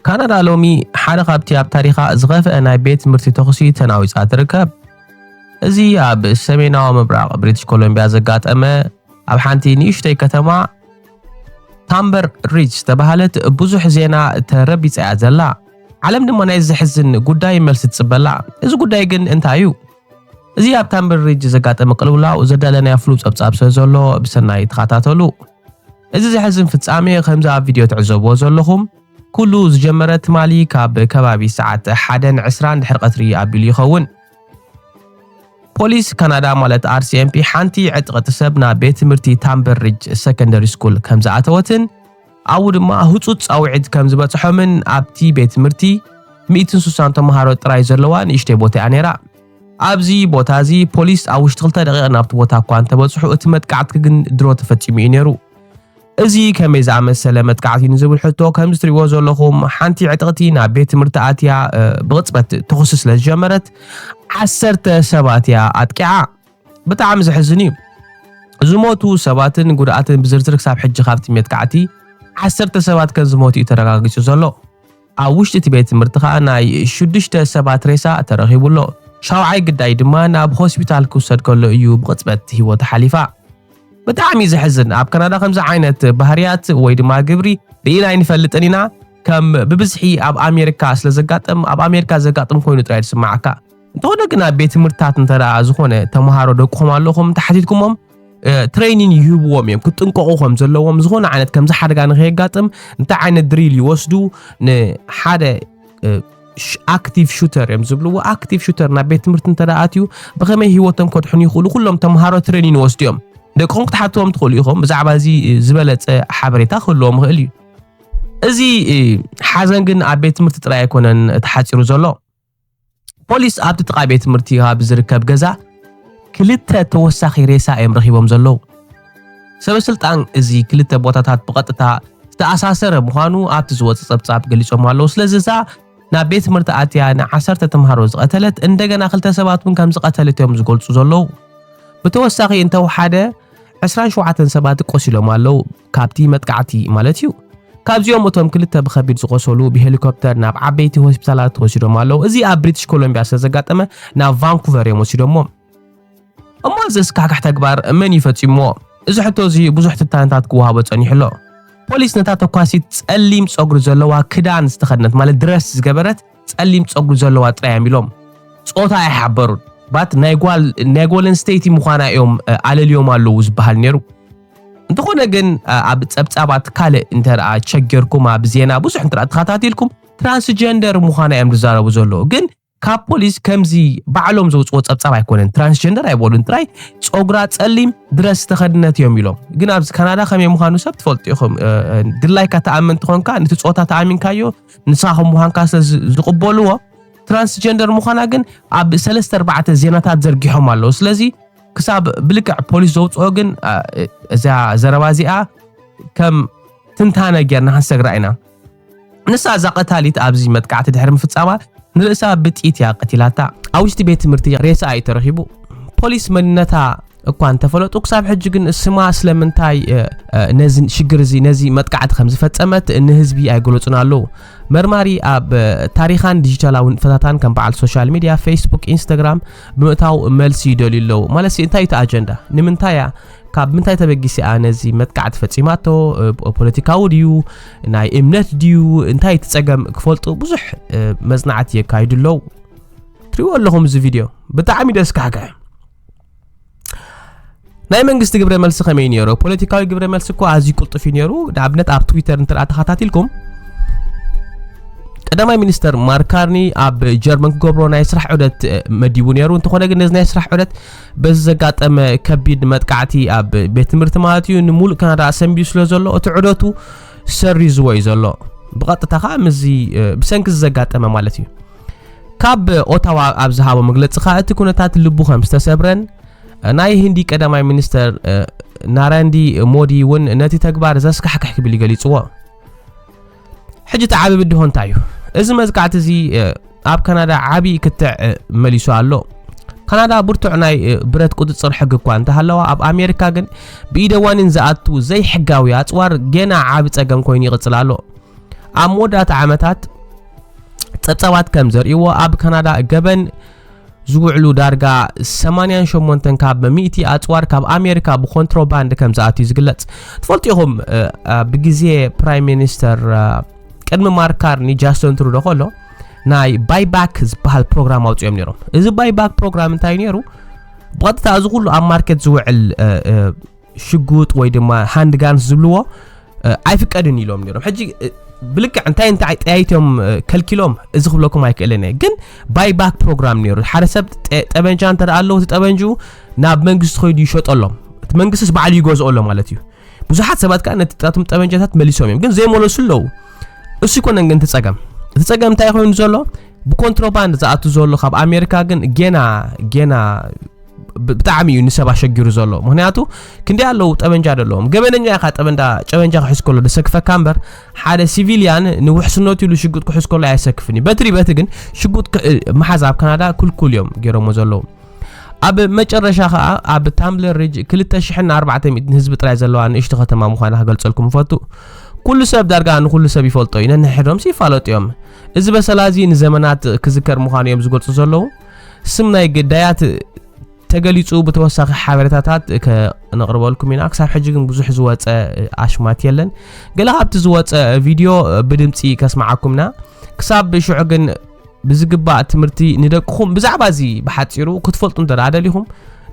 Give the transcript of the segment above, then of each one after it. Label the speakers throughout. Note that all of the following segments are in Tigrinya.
Speaker 1: ካናዳ ሎሚ ሓደ ካብቲ ኣብ ታሪኻ ዝኸፍአ ናይ ቤት ትምህርቲ ተኹሲ ተናዊጻ ትርከብ። እዚ ኣብ ሰሜናዊ ምብራቕ ብሪቲሽ ኮሎምቢያ ዘጋጠመ ኣብ ሓንቲ ንእሽተይ ከተማ ታምበር ሪጅ ዝተባሃለት ብዙሕ ዜና ተረቢጻ እያ ዘላ። ዓለም ድማ ናይ ዘሕዝን ጉዳይ መልሲ ትጽበላ። እዚ ጉዳይ ግን እንታይ እዩ? እዚ ኣብ ታምበር ሪጅ ዘጋጠመ ቅልውላው ዘዳለናዮ ፍሉይ ጸብጻብ ስለ ዘሎ ብሰናይ ተኸታተሉ። እዚ ዘሕዝን ፍጻሜ ከምዚ ኣብ ቪድዮ ትዕዘብዎ ዘለኹም ኩሉ ዝጀመረ ትማሊ ካብ ከባቢ ሰዓት ሓደን ዕስራን ድሕሪ ቀትሪ ኣቢሉ ይኸውን። ፖሊስ ካናዳ ማለት RCMP ሓንቲ ዕጥቕቲ ሰብ ናብ ቤት ትምህርቲ ታምበርሪጅ ሰከንደሪ ስኩል ከም ዝኣተወትን ኣብኡ ድማ ህጹጽ ጻውዒት ከም ዝበጽሖምን ኣብቲ ቤት ትምህርቲ 160 ተምሃሮ ጥራይ ዘለዋ ንእሽተይ ቦታ እያ ነይራ። ኣብዚ ቦታ እዚ ፖሊስ ኣብ ውሽጢ ክልተ ደቂቕ ናብቲ ቦታ እኳ እንተበጽሑ እቲ መጥቃዕቲ ክግን ድሮ ተፈጺሙ እዩ ነይሩ። እዚ ከመይ ዝኣመሰለ መጥቃዕቲ እዩ ንዝብል ሕቶ ከምዚ ትርእይዎ ዘለኹም ሓንቲ ዕጥቕቲ ናብ ቤት ትምህርቲ ኣትያ ብቕጽበት ተኹሲ ስለ ዝጀመረት ዓሰርተ ሰባት እያ ኣጥቂዓ። ብጣዕሚ ዘሕዝን እዩ። ዝሞቱ ሰባትን ጉድኣትን ብዝርዝር ክሳብ ሕጂ ካብቲ መጥቃዕቲ ዓሰርተ ሰባት ከም ዝሞቱ እዩ ተረጋጊጹ ዘሎ። ኣብ ውሽጢ እቲ ቤት ትምህርቲ ከኣ ናይ ሽዱሽተ ሰባት ሬሳ ተረኺቡ ኣሎ። ሻውዓይ ግዳይ ድማ ናብ ሆስፒታል ክውሰድ ከሎ እዩ ብቕጽበት ህይወቱ ሓሊፋ። ብጣዕሚ እዩ ዘሕዝን ኣብ ካናዳ ከምዚ ዓይነት ባህርያት ወይ ድማ ግብሪ ርኢና ኣይንፈልጥን ኢና ከም ብብዝሒ ኣብ ኣሜሪካ ስለ ዘጋጥም ኣብ ኣሜሪካ ዘጋጥም ኮይኑ ጥራይ ዝስምዓካ እንተኾነ ግን ኣብ ቤት ትምህርትታት እንተ ዝኾነ ተምሃሮ ደቅኹም ኣለኹም እንተሓቲትኩሞም ትሬኒን ይህብዎም እዮም ክጥንቀቑ ከም ዘለዎም ዝኾነ ዓይነት ከምዚ ሓደጋ ንከየጋጥም እንታይ ዓይነት ድሪል ይወስዱ ንሓደ ኣክቲቭ ሹተር እዮም ዝብልዎ ኣክቲቭ ሹተር ናብ ቤት ትምህርቲ እንተ ኣትዩ ብኸመይ ሂወቶም ከድሕኑ ይኽእሉ ኩሎም ተምሃሮ ትሬኒን ይወስዱ እዮም ደቅኹም ክትሓትዎም ትኽእሉ ኢኹም ብዛዕባ እዚ ዝበለፀ ሓበሬታ ክህልዎም ይኽእል እዩ እዚ ሓዘን ግን ኣብ ቤት ትምህርቲ ጥራይ ኣይኮነን ተሓፂሩ ዘሎ ፖሊስ ኣብቲ ጥቓ ቤት ትምህርቲ ከባቢ ዝርከብ ገዛ ክልተ ተወሳኺ ሬሳ እዮም ረኺቦም ዘለዉ። ሰበስልጣን እዚ ክልተ ቦታታት ብቐጥታ ዝተኣሳሰረ ምዃኑ ኣብቲ ዝወፀ ጸብጻብ ገሊጾም ኣለዉ። ስለዚ እዛ ናብ ቤት ትምህርቲ ኣትያ ንዓሰርተ ተምሃሮ ዝቐተለት እንደገና ክልተ ሰባት እውን ከም ዝቐተለት እዮም ዝገልጹ ዘለዉ። ብተወሳኺ እንተወሓደ 27 ሰባት ቆሲሎም ኣለዉ። ካብቲ መጥቃዕቲ ማለት እዩ። ካብዚኦም እቶም ክልተ ብኸቢድ ዝቖሰሉ ብሄሊኮፕተር ናብ ዓበይቲ ሆስፒታላት ተወሲዶም ኣለዉ። እዚ ኣብ ብሪቲሽ ኮሎምቢያ ስለ ዘጋጠመ ናብ ቫንኩቨር እዮም ወሲዶሞ። እሞ እዚ ኣስካሕካሕ ተግባር መን እዩ ፈጺሞ? እዚ ሕቶ እዚ ብዙሕ ትንታነታት ክወሃቦ ጸኒሑ ኣሎ። ፖሊስ ነታ ተኳሲት ጸሊም ጸጉሪ ዘለዋ ክዳን ዝተኸድነት ማለት ድረስ ዝገበረት ጸሊም ጸጉሪ ዘለዋ ጥራይ እዮም ኢሎም። ጾታ ኣይሓበሩን ባት ናይ ጓል ናይ ጓል ኣንስተይቲ ምዃና እዮም ኣለልዮም ኣለዉ ዝበሃል ነይሩ። እንተኾነ ግን ኣብ ጸብጻባት ካልእ እንተኣ ቸገርኩም ኣብ ዜና ብዙሕ እንተ ተኸታቲልኩም ትራንስጀንደር ምዃና እዮም ዝዛረቡ ዘለዉ ግን ካብ ፖሊስ ከምዚ ባዕሎም ዘውፅዎ ፀብፃብ ኣይኮነን ትራንስጀንደር ኣይበሉን ጥራይ ፀጉራ ፀሊም ድረስ ዝተኸድነት እዮም ኢሎም ግን ኣብዚ ካናዳ ከመይ ምዃኑ ሰብ ትፈልጡ ኢኹም ድላይካ ተኣመንቲ ኮንካ ነቲ ፆታ ተኣሚንካዮ ንስኻ ከም ምዃንካ ስለ ዝቕበልዎ ትራንስጀንደር ምዃና ግን ኣብ ሰለስተ ኣርባዕተ ዜናታት ዘርጊሖም ኣለዉ ስለዚ ክሳብ ብልክዕ ፖሊስ ዘውፅኦ ግን እዛ ዘረባ እዚኣ ከም ትንታነ ጌርና ክንሰግራ ኢና ንሳ እዛ ቀታሊት ኣብዚ መጥቃዕቲ ድሕሪ ምፍጻማ ንርእሳ ብጥይት እያ ቀቲላታ ኣብ ውሽጢ ቤት ትምህርቲ ሬሳ እዩ ተረኺቡ ፖሊስ መንነታ እኳ እንተፈለጡ ክሳብ ሕጂ ግን ስማ ስለምንታይ ነዚ ሽግር እዚ ነዚ መጥቃዕቲ ከም ዝፈጸመት ንህዝቢ ኣይገለጹን ኣለዉ መርማሪ ኣብ ታሪኻን ዲጂታላውን ፈታታን ከም በዓል ሶሻል ሚድያ ፌስቡክ ኢንስታግራም ብምእታው መልሲ ይደልዩ ኣለዉ ማለት እንታይ እቲ ኣጀንዳ ንምንታይ እያ ካብ ምንታይ ተበጊሰ እያ ነዚ መጥቃዕቲ ፈፂማቶ ፖለቲካዊ ድዩ ናይ እምነት ድዩ እንታይ እቲ ፀገም ክፈልጡ ብዙሕ መፅናዕቲ የካይዱ ኣለዉ ትሪእዎ ኣለኹም እዚ ቪድዮ ብጣዕሚ ደስ ካሕግሐ ናይ መንግስቲ ግብረ መልሲ ከመይ ነይሩ ፖለቲካዊ ግብረ መልሲ እኮ ኣዝዩ ቅልጡፍ እዩ ነይሩ ንኣብነት ኣብ ትዊተር እንተ ተኸታቲልኩም ቀዳማይ ሚኒስተር ማርካርኒ ኣብ ጀርመን ክገብሮ ናይ ስራሕ ዑደት መዲቡ ነይሩ እንተኾነ ግን ነዚ ናይ ስራሕ ዑደት በዚ ዘጋጠመ ከቢድ መጥቃዕቲ ኣብ ቤት ትምህርቲ ማለት እዩ ንሙሉእ ካናዳ ሰንቢዩ ስለ ዘሎ እቲ ዑደቱ ሰሪዝዎ እዩ ዘሎ ብቐጥታ ከዓ ምስዚ ብሰንኪ ዘጋጠመ ማለት እዩ ካብ ኦታዋ ኣብ ዝሃቦ መግለጺ ከኣ እቲ ኩነታት ልቡ ከም ዝተሰብረን ናይ ህንዲ ቀዳማይ ሚኒስተር ናረንዲ ሞዲ እውን ነቲ ተግባር ዘስካሕክሕ ክብል እዩ ገሊጽዎ ሕጂ እቲ ዓብዪ ብድሆ እንታይ እዩ እዚ መዝቃዕቲ እዚ ኣብ ካናዳ ዓብዪ ክትዕ መሊሱ ኣሎ ካናዳ ብርቱዕ ናይ ብረት ቁፅፅር ሕጊ እኳ እንተሃለዋ ኣብ ኣሜሪካ ግን ብኢደ ዋኒን ዝኣቱ ዘይሕጋዊ ኣፅዋር ገና ዓብ ፀገም ኮይኑ ይቕፅል ኣሎ ኣብ መወዳእታ ዓመታት ጸብጻባት ከም ዘርእይዎ ኣብ ካናዳ ገበን ዝውዕሉ ዳርጋ 88 ካብ ሚእቲ ኣጽዋር ካብ ኣሜሪካ ብኮንትሮባንድ ከም ዝኣትዩ ዝግለጽ ትፈልጡ ኢኹም ብግዜ ፕራይም ሚኒስተር ቅድሚ ማርካርኒ ጃስቶን ትሩዶ ከሎ ናይ ባይባክ ዝበሃል ፕሮግራም ኣውፅኦም ነይሮም እዚ ባይባክ ፕሮግራም እንታይ ነይሩ ብቐጥታ እዚ ኩሉ ኣብ ማርኬት ዝውዕል ሽጉጥ ወይ ድማ ሃንድ ጋንስ ዝብልዎ ኣይፍቀድን ኢሎም ነይሮም ሕጂ ብልክዕ እንታይ እንታይ ጠያይቶም ከልኪሎም እዚ ክብለኩም ኣይክእልን እየ ግን ባይ ባክ ፕሮግራም ነይሩ ሓደ ሰብ ጠበንጃ እንተ ኣለዎ እቲ ጠበንጁ ናብ መንግስቲ ኮይዱ ይሸጠሎም እቲ መንግስቲስ በዓሉ ይገዝኦ ኣሎ ማለት እዩ ብዙሓት ሰባት ከዓ ነቲ ጣቶም ጠበንጃታት መሊሶም እዮም ግን ዘይመለሱ ኣለዉ እሱ ይኮነን ግን እቲ ፀገም እቲ ፀገም እንታይ ኮይኑ ዘሎ ብኮንትሮባንድ ዝኣቱ ዘሎ ካብ ኣሜሪካ ግን ጌና ጌና ብጣዕሚ እዩ ንሰብ ኣሸጊሩ ዘሎ ምክንያቱ ክንደይ ኣለዉ ጠበንጃ ደለዎም ገበነኛ ኢኻ ጠበንዳ ጨበንጃ ክሕዝ ከሎ ደሰክፈካ እምበር ሓደ ሲቪልያን ንውሕስነቱ ኢሉ ሽጉጥ ክሕዝ ከሎ ኣየሰክፍን እዩ በትሪ በቲ ግን ሽጉጥ መሓዝ ኣብ ካናዳ ክልኩል እዮም ገይሮሞ ዘለዉ ኣብ መጨረሻ ከዓ ኣብ ታምብለር ሪጅ 2400 ህዝቢ ጥራይ ዘለዋ ንእሽቲ ከተማ ምዃና ክገልጸልኩም ይፈቱ ኩሉ ሰብ ዳርጋ ንኩሉ ሰብ ይፈልጦ እዩ ነንሕዶምሲ ይፋለጡ እዮም እዚ በሰላ እዚ ንዘመናት ክዝከር ምዃኑ እዮም ዝገልጹ ዘለዉ ስም ናይ ግዳያት ተገሊጹ ብተወሳኺ ሓበሬታታት ከነቕርበልኩም ኢና ክሳብ ሕጂ ግን ብዙሕ ዝወፀ ኣሽማት የለን ገለ ካብቲ ዝወፀ ቪድዮ ብድምፂ ከስማዓኩም ኢና ክሳብ ሽዑ ግን ብዝግባእ ትምህርቲ ንደቅኹም ብዛዕባ እዚ ብሓፂሩ ክትፈልጡ እንተ ደሊኹም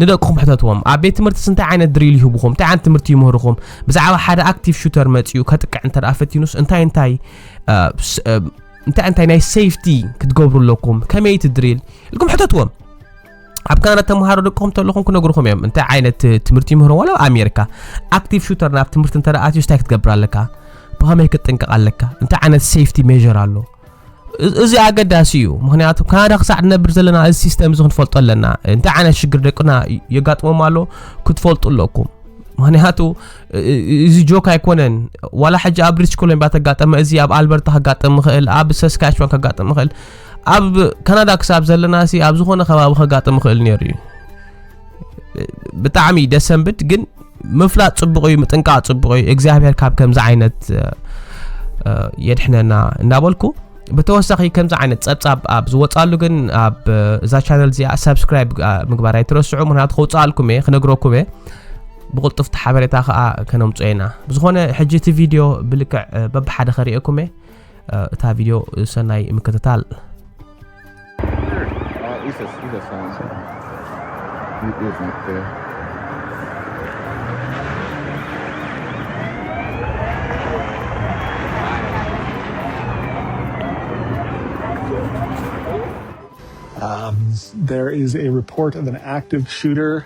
Speaker 1: ንደቅኹም ሕተትዎም ኣብ ቤት ትምህርቲ እንታይ ዓይነት ድሪል ይህብኹም እንታይ ዓይነት ትምህርቲ ይምህርኹም ብዛዕባ ሓደ ኣክቲቭ ሹተር መፅኡ ከጥቅዕ እንተ ፈቲኑስ እንታይ እንታይ እንታይ እንታይ ናይ ሴፍቲ ክትገብሩ ኣለኩም ከመይ እቲ ድሪል ኢልኩም ሕተትዎም ኣብ ካናዳ ተምሃሮ ደቅኹም ተለኹም ክነግርኹም እዮም እንታይ ዓይነት ትምህርቲ ይምህሮ ዋላ ኣሜሪካ ኣክቲቭ ሹተር ናብ ትምህርቲ እንተ ኣትዩ ስታይ ክትገብር ኣለካ ብኸመይ ክትጥንቀቕ ኣለካ እንታይ ዓይነት ሴፍቲ ሜር ኣሎ እዚ ኣገዳሲ እዩ ምክንያቱ ካናዳ ክሳዕ ንነብር ዘለና እዚ ሲስተም እዚ ክንፈልጦ ኣለና እንታይ ዓይነት ሽግር ደቅና የጋጥሞም ኣሎ ክትፈልጡ ኣለኩም ምክንያቱ እዚ ጆክ ኣይኮነን ዋላ ሕጂ ኣብ ብሪትሽ ኮሎምቢያ ተጋጠመ እዚ ኣብ ኣልበርታ ከጋጥም ይኽእል ኣብ ሰስካችዋን ከጋጥም ይኽእል ኣብ ካናዳ ክሳብ ዘለና ሲ ኣብ ዝኾነ ከባቢ ከጋጥም ይኽእል ነይሩ እዩ ብጣዕሚ ደሰንብድ ግን ምፍላጥ ፅቡቅ እዩ ምጥንቃቅ ፅቡቅ እዩ እግዚኣብሔር ካብ ከምዚ ዓይነት የድሕነና እናበልኩ ብተወሳኺ ከምዚ ዓይነት ፀብፃብ ኣብ ዝወፃሉ ግን ኣብ እዛ ቻነል እዚኣ ሰብስክራይብ ምግባር ኣይትረስዑ ምክንያቱ ከውፅኣልኩም እየ ክነግረኩም እየ ብቕልጡፍቲ ሓበሬታ ከኣ ከነምጾ ኢና ብዝኾነ ሕጂ እቲ ቪድዮ ብልክዕ በብሓደ ከርእየኩም እየ እታ ቪድዮ ሰናይ ምክትታል Um, there is
Speaker 2: a report of an active shooter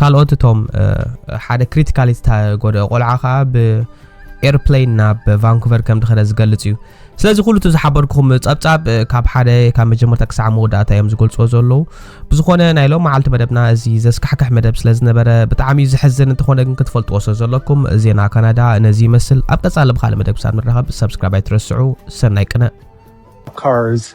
Speaker 1: ካልኦት እቶም ሓደ ክሪቲካሊ ዝተጎድኦ ቆልዓ ከዓ ብኤርፕሌን ናብ ቫንኩቨር ከም ድኸደ ዝገልጽ እዩ ስለዚ ኩሉ እቲ ዝሓበርኩም ጸብጻብ ካብ ሓደ ካብ መጀመርታ ክሳዕ መወዳእታ እዮም ዝገልጽዎ ዘለዉ ብዝኾነ ናይ ሎም መዓልቲ መደብና እዚ ዘስካሕክሕ መደብ ስለ ዝነበረ ብጣዕሚ እዩ ዝሕዝን እንተኾነ ግን ክትፈልጥዎ ስለ ዘለኩም ዜና ካናዳ ነዚ ይመስል ኣብ ቀጻሊ ብካልእ መደብ ክሳብ ንራኸብ ሰብስክራይብ ኣይትረስዑ ሰናይ ቅነ Cars